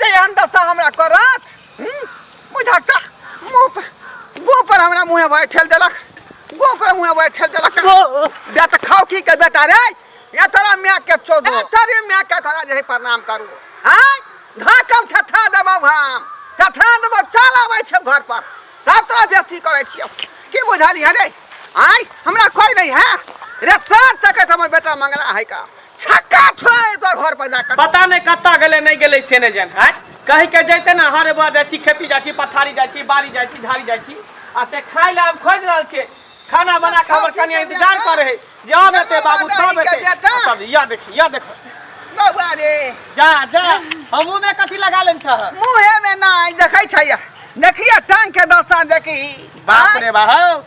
जे एहन दशा हमरा करत हम्म, बुझा का मुँह पर गोह पर हमरा मुँहे भाई ठेल देलक गोह पर मुँहे भाई ठेल देलक बे तऽ खाओ की के बेटा रे या तोरा माय के चोद तोरे माय के तोरा जे है प्रणाम करू आय धाकम ठठा देबौ हम ठठा देबौ चल आबै छै घर पर तब तोरा बेस्ती करै छियौ की बुझलियै रे आय हमरा कोई नहीं है रे सर तकत हमर बेटा मंगला है का छक्का छोड़े तो घर पर जाकर पता नहीं कत्ता गले नहीं गले से नहीं जान है कह के जैते ना हर बार जाची खेती जाची पथारी जाची बारी जाची झाड़ी जाची आ से खाई ला खोज रहल छे खाना बना के हमर कनिया इंतजार करे है जा बेटे बाबू सब बेटे सब या देख या देख बउआ रे जा जा हमू में कथी लगा लेन छ मुहे में ना देखे छै देखिए टांग के दशा देखी बाप रे बाप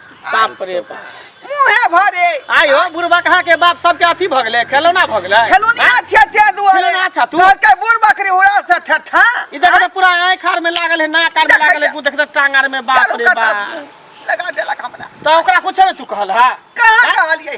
बाप रे बाप मुहे भरे आयो बुढ़बा कहाँ के बाप सबके अथी भऽ गेलै खेलौना भऽ गेलै खेलुनिया छिया छिया दुआरे खेलौना छा तू। घर के बूढ़ बकरी उड़ा से ठठा ई देख तऽ पूरा आँखि आर में लागल है नाक आर में देखै लागल है छै। तू देख तऽ टांग आर में बाप रे बाप लगा देलक हमरा तऽ ओकरा कुछ नहि तू कहल हा कहाँ कहलियै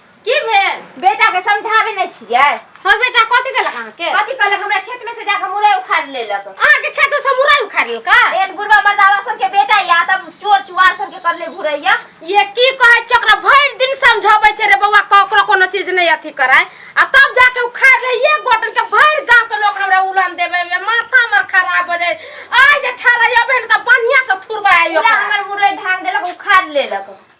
की भेल बेटा के समझावे नहीं छिए हमर बेटा कथी केलक अहाँ के कथी कहलक हमरा खेत में से जाके मुरई उखाड़ लेलक अहाँ के खेत से मुरई उखाड़ लेलका एक बुढ़वा मर्दावा सब के बेटा या तब चोर चुआर सब के करले घुरैया ये की कहै छै ओकरा भरि दिन समझाबै छै रे बौआ ककरो कोनो चीज नहीं अथी कराय आ तब जाके उखाड़ ले ये गोटन के भरि गांव के लोग हमरा उलन देबे में माथा हमर खराब हो जाय आइ जे छाड़ा अबे ने त बढ़िया से थुरबा आइयो पूरा हमर मुरई धान देलक उखाड़ लेलक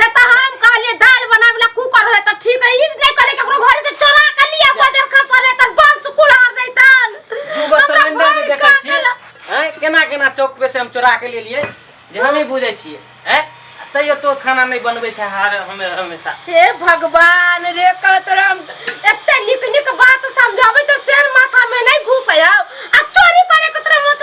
रे त हम कहलिए दाल बनावे ला कुकर होय त ठीक है ई नहीं करे केकरो घर से चोरा के लिया को देखा सरे तर बंस कुलार दे तन दू गो सिलेंडर में देखै छी हैं केना केना चौक पे से हम चोरा के लेलिए जे हम ही बुझै छिए हैं तैयो तोर खाना नहीं बनबै छै हर हमे हमेशा हे भगवान रे का तोरा हम एते निक निक बात समझावे तो शेर माथा में नहीं घुसे आ चोरी करे के तोरा मत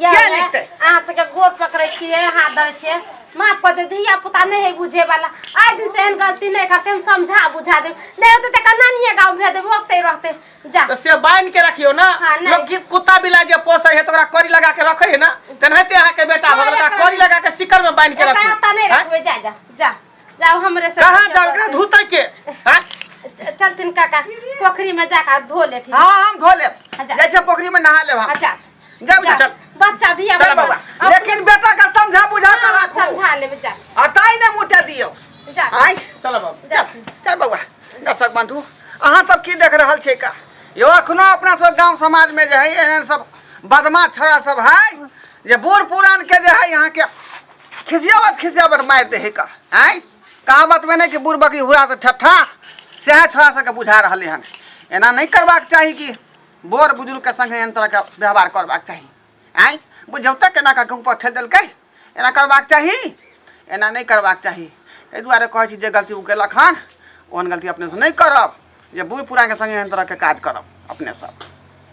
या किया ने लिखतै? अहाँ सबके गोर पकड़ै छियै हाथ धरै छियै माफ कऽ दे धिया पुता नहि है बुझे वाला आइ दिन से एहन गलती नहि करते हम समझा बुझा देब नहि होते तऽ कना निये गाँव भेज देब ओते रहते जा तऽ से बान्हि के रखियौ ने हाँ, नहीं। लोक की कुत्ता बिलाइ जे पोसै है तऽ ओकरा कड़ी लगा के रखै है ने तेनाहिते अहाँके बेटा भऽ गेल ओकरा एकरा- कड़ी लगा के सिकड़ में बान्हि के एकरा रखियौ एतऽ नहि आँय? रखबै जा जा जा जाओ हमरे से कहाँ जाउ एकरा धुतै के आँय? च- चलथिन काका पोखरी में जाकर धो लेथिन हाँ हम धो लेब अच्छा। जाइ छै पोखरी में नहा लेब हम अच्छा जाऊ जा चल बच्चा दिया चल बाबा लेकिन बेटा का समझा बुझा कर रखो समझा ले बच्चा अताई ने मुते दियो जा आय चल बाबू जा चल बाबा दर्शक बंधु अहाँ सब की देख रहल छै का यो अखनो अपना सब गांव समाज में जे है एहन सब बदमाश छोरा सब है जे बूढ़ पुरान के जे है यहाँ के खिसियावत खिसियावत मार दे है का आय कहावत में नहीं कि बूढ़ बकी हुआ से ठट्ठा सएह छोरा सबके बुझा रहलै हन एना नहि करबाक चाही कि बोर बुजुर्ग के संगे एहन तरह के व्यवहार करबाक चाही आइ बुझौता केना कऽ के ऊपर ठेल देलकै एना करबाक चाही एना नहि करबाक चाही एहि दुआरे कहै छी जे गलती ओ केलक हन ओहन गलती अपने से नहि करब जे बूढ़ पुरान के संगे एहन तरह के काज करब अपने सब